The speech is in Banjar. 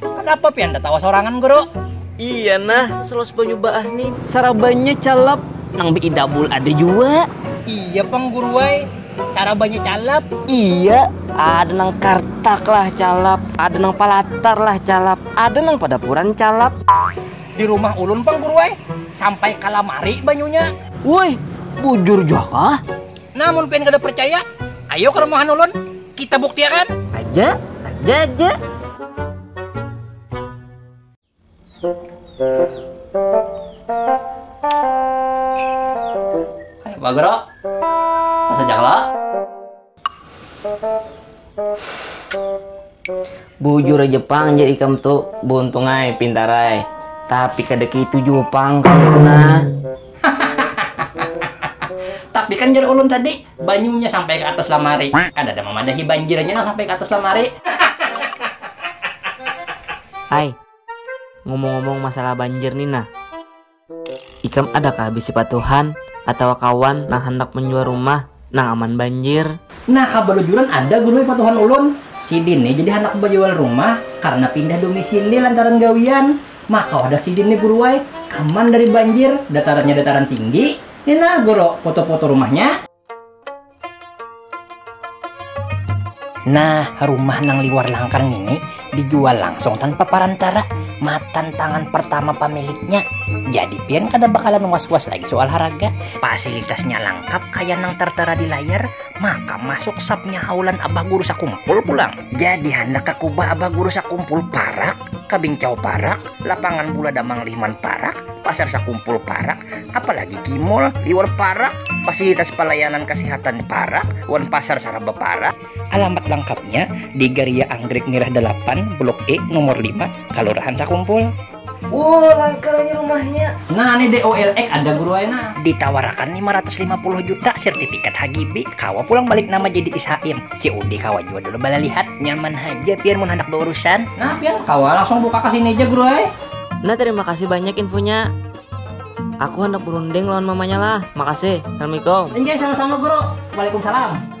kenapa pian tetawa sorangan guru iya nah selos banyu baah nih sarabanya calap nang beidabul ada jua iya pang guru ai sarabanya calap iya ada nang kartak lah calap ada nang palatar lah calap ada nang padapuran calap di rumah ulun pang guru ai sampai kalamari banyunya wuih bujur jua kah. Nah mun pian kada percaya, ayo ka rumahan ulun, kita buktiakan. Aja, aja, aja. Ayo Pak Guru, masuk aja kalo. bujur aja pang jadi ikam tuh buntung ay pintar ay tapi kada kayak itu jua pang nah tapi kan jar ulun tadi banyunya sampai ke atas lamari kada ada memadahi banjirnya nang sampai ke atas lamari ay ngomong-ngomong masalah banjir ni nah. Ikam ada kah bisi patuhan atawa kawan nang handak manjual rumah nang aman banjir? Nah, kabalujuran ada gurui patuhan ulun. Sidin ni jadi handak bajual rumah karna pindah domisili lantaran gawian. Maka wadah sidin ni guruai, aman dari banjir, datarannya dataran tinggi. Ni nah, Guru, foto-foto rumahnya. Nah, rumah nang liwar langkar ngini dijual langsung tanpa parantara matan tangan pertama pamiliknya. Jadi pian kada bakalan was-was lagi soal haraga. Fasilitasnya langkap kaya nang tertera di layar, maka masuk sapnya haulan Abah Guru Sakumpul pulang. Jadi handak ka kubah Abah Guru Sakumpul parak, ka Bingcau parak, lapangan bula Damang Liman parak, pasar Sakumpul parak, apalagi di mall liwar parak fasilitas pelayanan kesehatan parak wan pasar saraba parak alamat lengkapnya di garia anggrek merah dalapan blok E nomor lima kalurahan sakumpul. Woo langka lagi rumahnya. Nah ni di OLX ada guru ai nah. Ditawarakan lima ratus lima puluh juta sertifikat HGB kawa pulang balik nama jadi ishaim COD kawa jua dulu balalihat. Nyaman haja pian mun handak baurusan. Nah pian kawa langsung buka ka sini ja guru ai. Nah terima kasih banyak infonya. Aku handak berunding lawan mamanya lah. Makasih. Assalamualaikum. Enjay sama-sama guru. Waalaikumsalam.